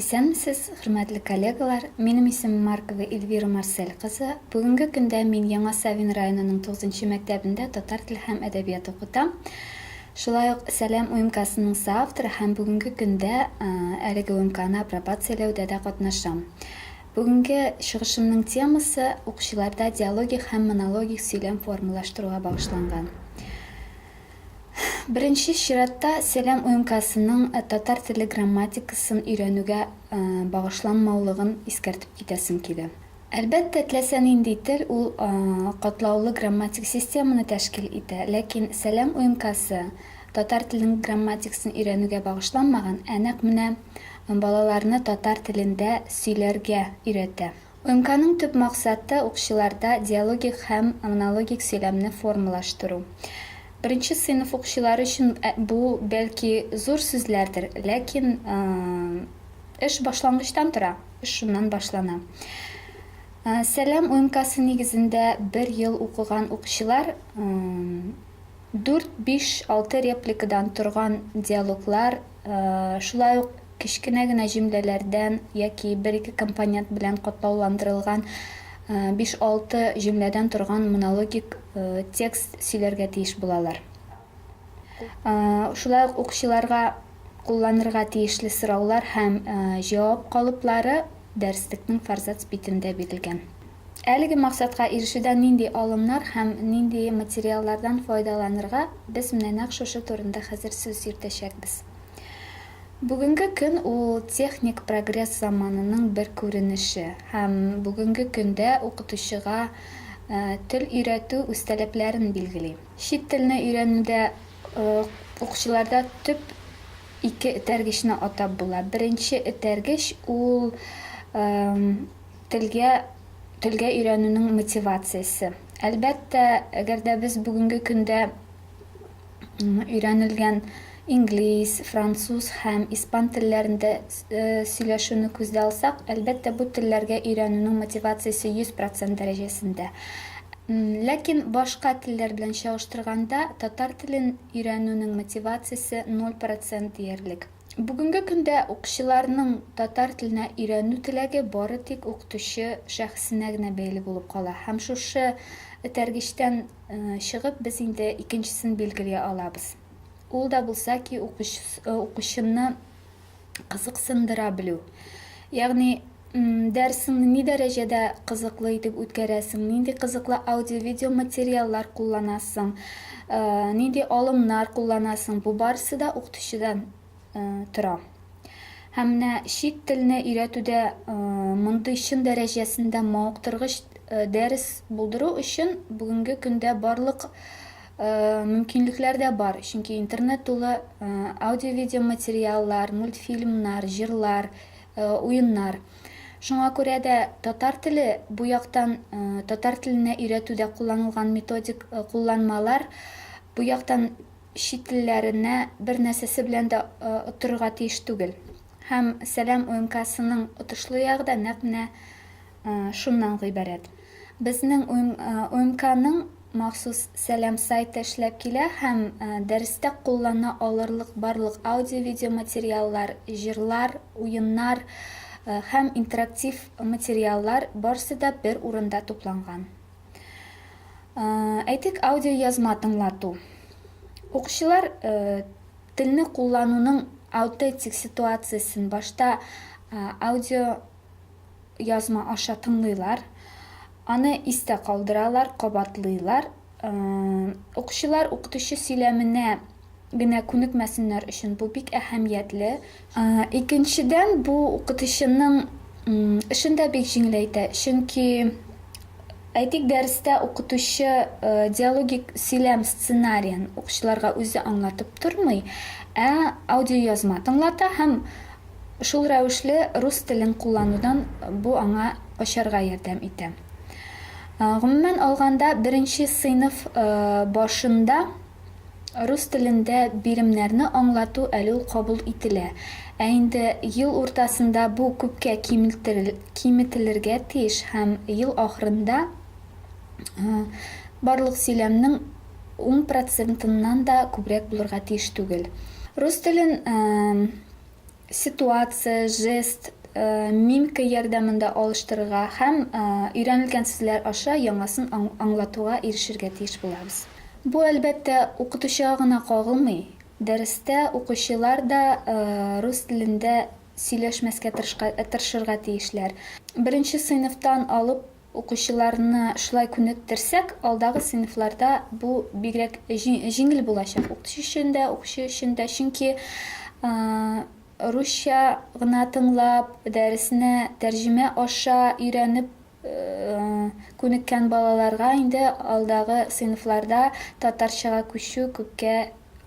Исәнмесез, хөрмәтле коллегалар! Минем исемем Маркова Эльвира Марсель кызы. Бүгенге көндә мин Яңа Савин районының тугызынчы мәктәбендә татар теле һәм әдәбият укытам. Шулай ук Сәлам УМКасының соавторы һәм бүгенге көндә әлеге УМКаны апробацияләүдә дә катнашам. Бүгенге чыгышымның темасы укучыларда диалогик һәм монологик сөйләм формалаштыруга багышланган. Беренче чиратта Сәлам УМКАСының татар теле грамматикасын өйрәнүгә багышланмаулыгын искәртеп китәсем килә. Әлбәттә, теләсә нинди тел ул катлаулы грамматик системаны тәшкил итә, ләкин Сәлам УМКАСы татар телен грамматикасын өйрәнүгә багышланмаган, ә нәкъ менә балаларны татар телендә сөйләргә өйрәтә. МКның төп максаты, укчыларда диалогик һәм монологик сөйләмне формалаштыру. Беренче сыйныф укчылары өчен бу, бәлки, зур сүзләрдер, ләкин эш башлангычтан тора, эш шуннан башлана. Сәлам МКсы нигезендә бер ел укыган укчылар дүрт, биш, алты репликадан торган диалоглар Шулай ук кечкенә генә җөмләләрдән яки бер-ике компонент белән катлауландырылган биш-алты җөмләдән торган монологик текст сөйләргә тиеш булалар. Шулай ук укучыларга кулланырга тиешле сораулар һәм җавап калыплары дәреслекнең форзац битендә бирелгән. Әлеге максатка ирешүдә нинди алымнар һәм нинди материаллардан файдаланырга, без менә нәкъ шушы турында хәзер сүз йөртәчәкбез. Бүгенге көн ул техник прогресс заманының бер күренеше һәм бүгенге көндә укытучыга тел өйрәтү үстәләпләрен билгели. Чит телне өйрәнүдә укучыларда төп ике этәргечне атап була. Беренче этәргеч ул Телгә телгә өйрәнүнең мотивациясе. Әлбәттә, әгәр дә без бүгенге көндә өйрәнелгән инглиз, француз һәм испан телләрендә сөйләшүне күздә алсак, әлбәттә, бу телләргә өйрәнүнең мотивациясе 100 процент дәрәҗәсендә. Ләкин башка телләр белән чагыштырганда, татар телен өйрәнүнең мотивациясе 0 процент диярлек. Бүгенге көндә укчыларның татар теленә өйрәнү теләге бары тик укытучы шәхесенә генә бәйле булып кала. Һәм шушы этәргечтән чыгып без инде икенчесен билгели алабыз. Ул да булса ки укучыны кызыксындыра белү. Ягъни Дәресеңне ни дәрәҗәдә кызыклы итеп үткәрәсең? Нинди кызыклы аудио-видео материаллар кулланасың? Нинди алымнар кулланасың? Бу барысы да укытучыдан тора. Һәм менә чит телне өйрәтүдә мондый чын дәрәҗәсендә мавыктыргыч дәрес булдыру өчен бүгенге көндә барлык мөмкинлекләр дә бар. Чөнки интернет тулы аудио-видео материаллар, мультфильмнар, җырлар, э, уеннар. Шуңа күрә дә татар теле бу яктан э, татар теленә өйрәтүдә кулланылган методик э, кулланмалар бу яктан чит телләренә бер нәрсәсе белән дә оттырырга тиеш түгел. Һәм Сәлам УМКсының отышлы ягы да нәкъ менә шуннан гыйбарәт. Безнең УМКның махсус Сәлам сайты эшләп килә һәм дәрестә куллана алырлык барлык аудио-видео материаллар, җырлар, уеннар һәм интерактив материаллар барысы да бер урында тупланган. Әйтик, аудиоязма тыңлату. Укучылар телне куллануның аутентик ситуациясен башта аудио язма аша тыңлыйлар, аны истә калдыралар, кабатлыйлар. Укучылар укытучы сөйләменә генә күнекмәсеннәр өчен бу бик әһәмиятле. Икенчедән, бу укытучының эшен дә бик җиңеләйтә, чөнки, әйтик, дәрестә укытучы диалогик сөйләм сценариен укучыларга үзе аңлатып тормый, ә аудиоязма тыңлата һәм Шул рәвешле рус телен кулланудан бу аңа качарга ярдәм итә. Гомумән алганда, беренче сыйныф башында рус телендә биремнәрне аңлату әле ул кабул ителә, ә инде ел уртасында бу күпкә киметелергә тиеш һәм ел ахырында барлык сөйләмнең ун процентыннан да күбрәк булырга тиеш түгел. Рус телен ситуация, жест, мимка ярдәмендә алыштырырга һәм өйрәнелгән сүзләр аша яңасын аңлатуга ирешергә тиеш булабыз. Бу, әлбәттә, укытучыга гына кагылмый. Дәрестә укучылар да рус телендә сөйләшмәскә тырышырга тиешләр. Беренче сыйныфтан алып Укучыларны шулай күнектерсәк, алдагы сыйныфларда бу бигрәк җиңел булачак, укытучы өчен дә, укучы өчен дә. Чөнки русча гына тыңлап, дәресне тәрҗемә аша өйрәнеп күнеккән балаларга инде алдагы сыйныфларда татарчага күчү күпкә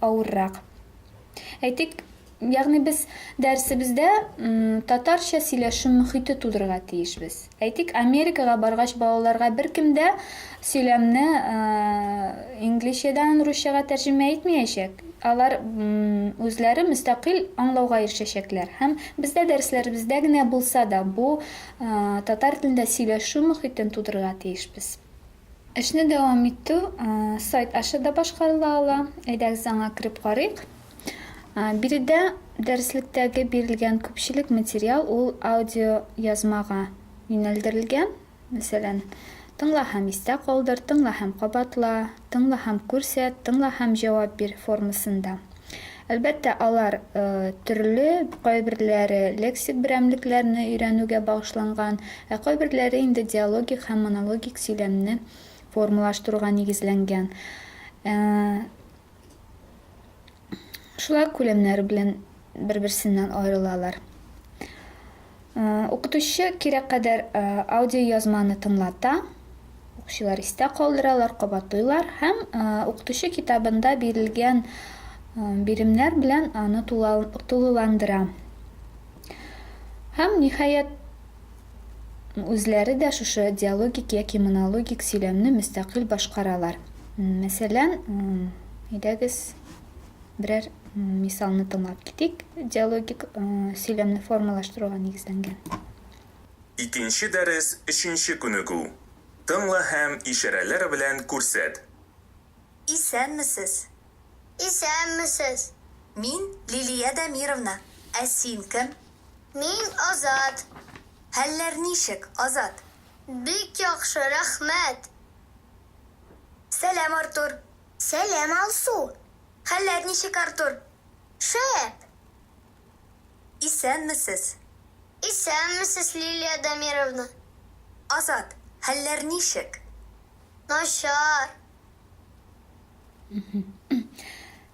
авыррак. Әйтик, ягъни без дәресебездә татарча сөйләшү мөхите тудырырга тиешбез. Әйтик, Америкага баргач, балаларга беркем дә сөйләмне инглизчәдән русчага тәрҗемә итмәячәк. Алар үзләре мөстәкыйль аңлауга ирешәчәкләр. Һәм бездә дәресләребездә генә булса да, бу татар телендә сөйләшү мөхитен тудырырга тиешбез. Эшне дәвам итү сайт аша да башкарыла ала. Әйдәгез аңа кереп карыйк. Биредә дәреслектәге бирелгән күпчелек материал ул аудиоязмага юнәлдерелгән. Мәсәлән, Тыңла һәм истә калдыр, Тыңла һәм кабатла, Тыңла һәм күрсәт, Тыңла һәм җавап бир формасында. Әлбәттә, алар төрле, кайберләре лексик берәмлекләрне өйрәнүгә багышланган, ә кайберләре инде диалогик һәм монологик сөйләмне формалаштыруга нигезләнгән. Шулай ук күләмнәре белән бер-берсеннән аерылалар. Укытучы кирәк кадәр аудиоязманы тыңлата, укучылар истә калдыралар, кабатлыйлар һәм укытучы китабында бирелгән биремнәр белән аны тулыландыра. Һәм, ниһаять, үзләре дә шушы диалогик яки монологик сөйләмне мөстәкыйль башкаралар. Мәсәлән, әйдәгез. берәр мисалны тыңлап китик, диалогик сөйләмне формалаштыруга нигезләнгән. Икенче дәрес өченче күнегү. Тыңла һәм ишарәләр белән күрсәт. Исәнмесез! Исәнмесез! Мин, Лилия Дамировна. Ә син кем? Мин, Азат. Хәлләр ничек, Азат? Бик яхшы, рәхмәт! Сәлам, Артур! Сәлам, Алсу! Хәлләр ничек, Артур? Шәп! Исәнмесез! Исәнмесез, Лилия Дамировна! Азат, хәлләр ничек? Начар!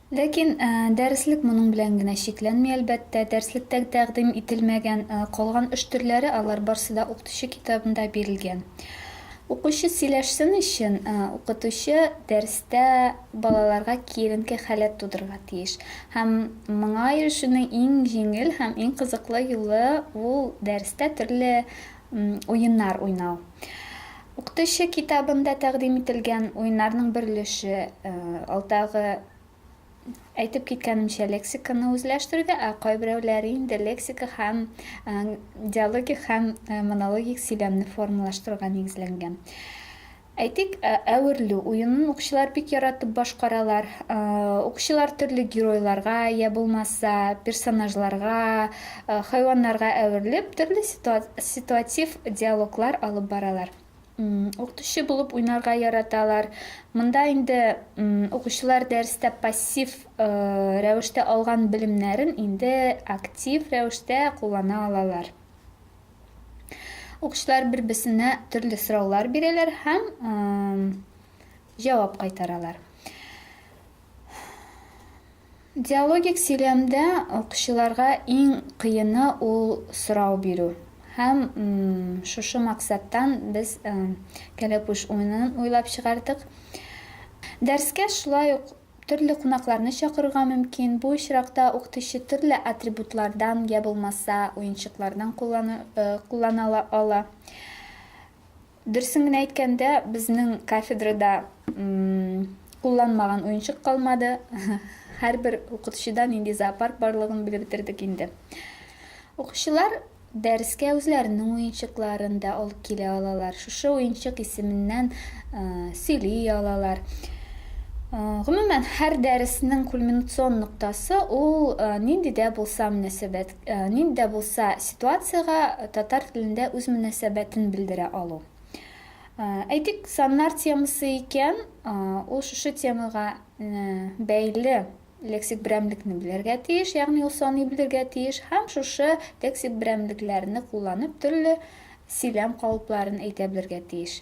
Ләкин дәреслек моның белән генә чикләнми, әлбәттә. Дәреслектә тәкъдим ителмәгән калган эш төрләре, алар барсы да укытучы китабында бирелгән. Укучы сөйләшсен өчен, укытучы дәрестә балаларга киеренке халәт тудырырга тиеш. Һәм моңа ирешүнең иң җиңел һәм иң кызыклы юлы ул дәрестә төрле уеннар уйнау. Укытучы китабында тәкъдим ителгән уеннарның бер өлеше алдагы Әйтеп киткәнемчә, лексиканы үзләштерүдә, ә кайберәүләре инде лексика һәм э, диалогик һәм э, монологик сөйләмне формалаштыруга нигезләнгән. Әйтик, э, әверлү уенын укучылар бик яратып башкаралар. Укучылар төрле геройларга я булмаса персонажларга, хайваннарга әверелеп, төрле ситуатив диалоглар алып баралар. Укытучы булып уйнарга яраталар. Монда инде укучылар дәрестә пассив э, рәвештә алган белемнәрен инде актив рәвештә куллана алалар. Укучылар бер-берсенә төрле сораулар бирәләр һәм э, җавап кайтаралар. Диалогик сөйләмдә укучыларга иң кыены ул сорау бирү. Һәм шушы максаттан без Кәләпүш уенын уйлап чыгардык. Дәрескә шулай ук төрле кунакларны чакырырга мөмкин. Бу очракта укытучы төрле атрибутлардан йә булмаса уенчыклардан куллана ала. Дөресен генә әйткәндә, безнең кафедрада кулланмаган уенчык калмады. Һәрбер укытучыда нинди зоопарк барлыгын белеп бетердек инде. Укучылар дәрескә үзләренең уенчыкларын да алып килә алалар. Шушы уенчык исеменнән сөйли алалар. Гомумән, һәр дәреснең кульминацион ноктасы ул нинди дә булса мөнәсәбәт. Нинди дә булса ситуациягә татар телендә үз мөнәсәбәтен белдерә алу. Әйтик, саннар темасы икән, ул шушы темага бәйле лексик берәмлекне белергә тиеш, ягъни ул саный белергә тиеш һәм шушы лексик берәмлекләрне кулланып төрле сөйләм калыпларын әйтә белергә тиеш.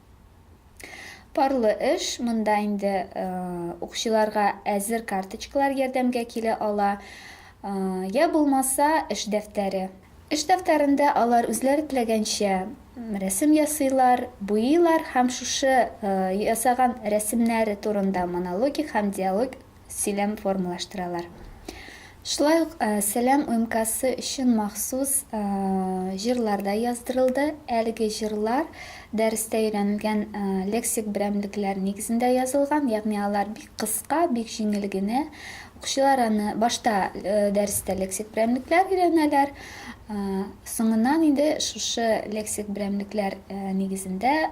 Парлы эш, монда инде укчыларга әзер карточкалар ярдәмгә килә ала, я булмаса эш дәфтәре. Эш дәфтәрендә алар үзләре теләгәнчә рәсем ясыйлар, буйыйлар һәм шушы ясаган рәсемнәре турында монологик һәм диалогик сөйләм формалаштыралар. Шулай ук Сәлам умкасы өчен махсус җырлар да яздырылды. Әлеге җырлар дәрестә өйрәнелгән лексик берәмлекләр нигезендә язылган, ягъни алар бик кыска, бик җиңел генә. Укучылар аны башта дәрестә лексик берәмлекләр өйрәнәләр, соңыннан инде шушы лексик берәмлекләр нигезендә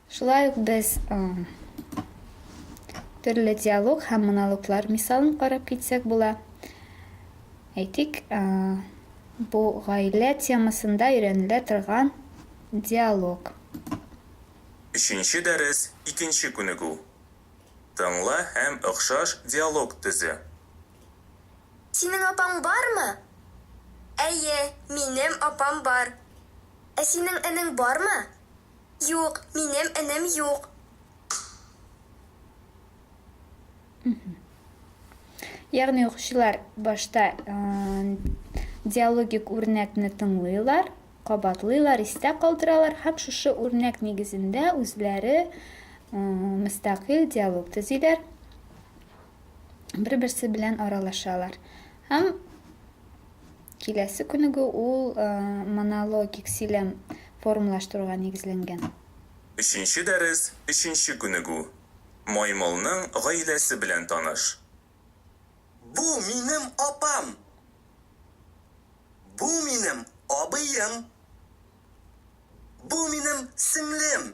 Шулай ук без төрле диалог һәм монологлар мисалын карап китсәк була. Әйтик, бу гаилә темасында өйрәнелә торган диалог. Өченче дәрес, икенче күнегү. Тыңла һәм охшаш диалог төзе. Синең апаң бармы? Әйе, минем апам бар. Ә синең энең бармы? Юк, минем энем юк. Ягъни укучылар башта диалогик үрнәкне тыңлыйлар, кабатлыйлар, истә калдыралар һәм шушы үрнәк нигезендә үзләре мөстәкыйль диалог төзиләр, бер-берсе белән аралашалар. Һәм Киләсе күнегү ул монологик сөйләм формалаштыруга нигезләнгән. Өченче дәрес, өченче күнегү. Маймылның гаиләсе белән таныш. Бу, минем апам. Бу, минем абыем. Бу, минем сеңлем.